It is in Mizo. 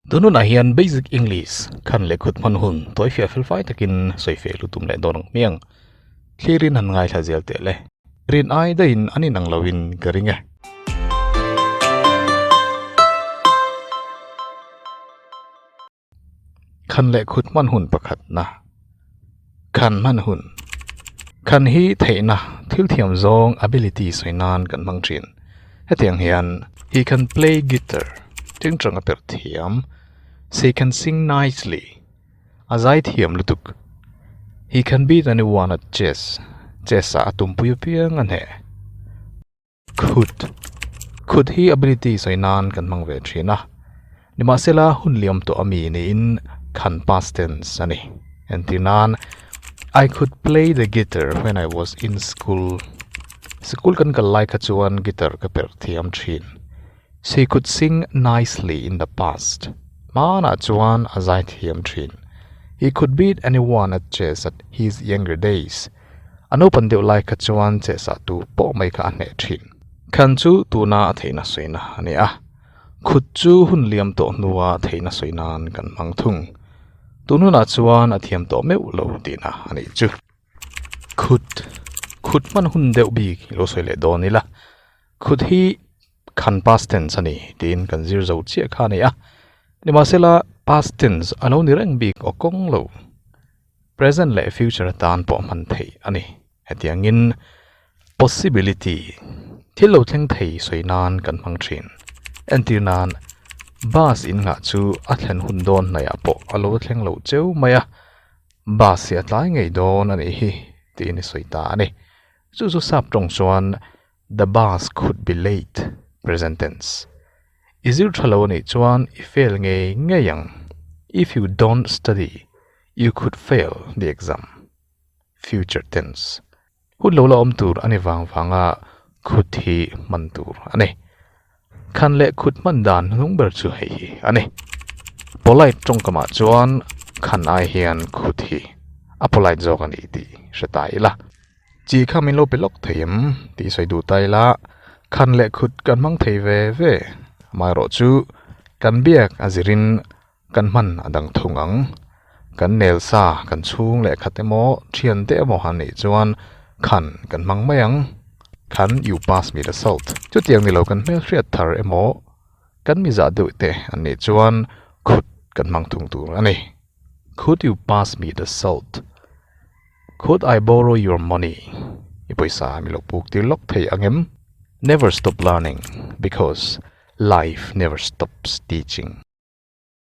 Tun hunah hian Basic English khan leh kut hman hun tuaifiah felfai takin sawi feh lutum leh dawn ang hmiang. Thlirin han ngaithla zel teh le. Rin ai daihin an inang loin ka ring e. Khan leh kut hman hun pakhatna. Khan hman hun, khan hi theihna, thil thiam zawng, ability, sawi nan kan hmang thin. Hetiang hian, He can play guitar, ṭeng ṭang a perh thiam. She can sing nicely, a zai thiam lutuk. He can beat anyone at chess, chess-ah a tumpui apiang a hneh. Khut. Khut hi ability sawi nan kan hmang ve thin a, nimahsela hun liam tawh a mi niin khan past tense a ni. Entir nan I could play the guitar when I was in school. Sikul kan kal lai kha chuan guitar ka perh thiam thin. She could sing nicely in the past. Hmanah chuan a zai thiam thin. He could beat anyone at chess at his younger days. A naupan deuh lai kha chuan chehsah tu pawh mai kha a hneh thin. Khan chu tuna a theihna sawina a ni a, khut chu hun liam tawh hnua theihna sawi nan kan hmang thung. Tun hunah chuan a thiam tawh meuh lo tihna a nih chu. Khut, khut hman hun deuh bik i lo sawi leh dawn ila, khut hi khan past tense a ni tiin kan zir zo chiah kha a ni a. Nimahsela past tense a lo ni reng bik awk kawng lo. Present leh future atan pawh hman theih a ni. Hetiangin possibility thil lo thleng thei sawi nan kan hmang thin. Entir nan bus in ngah chu a thlen hun dawn hnaiah pawh a lo thleng lo cheu mai a, bus hi a tlai ngei dawn a nih hi tiin i sawi ta a ni. Chu chu sap tawng chuan The bus could be late, present tense, I zir tha lo a nih chuan i fail ngei ngei ang, If you don't study, you could fail the exam, future tense, Hun lo la awm tur a ni vang vang a could hi hman tur a ni. Khan leh khut hman dan hnung ber chu hei hi a ni. Polite tawngkamah chuan khan ai hian khut hi a polite zawk a ni tih hre ta ila. Chi kha min lo pe lawk thei em? tih sawi duh ta ila. Khan leh khut kan hmang thei ve ve amaherawhchu kan biak a zirin Kan hman a dang thung ang. Kan nel sa, kan chhung leh khat emaw, thian te emaw han neih chuan khan kan hmang mai ang. Khan you pass me the salt. Chutiang ni lo kan hmel hriat thar emaw, kan mizah deuh te an nih chuan khut kan hmang thung tur a ni. Could you pass me the salt? Could I borrow your money? I pawisa mi lo puk tir lawk thei ang em? Never stop learning because life never stops teaching.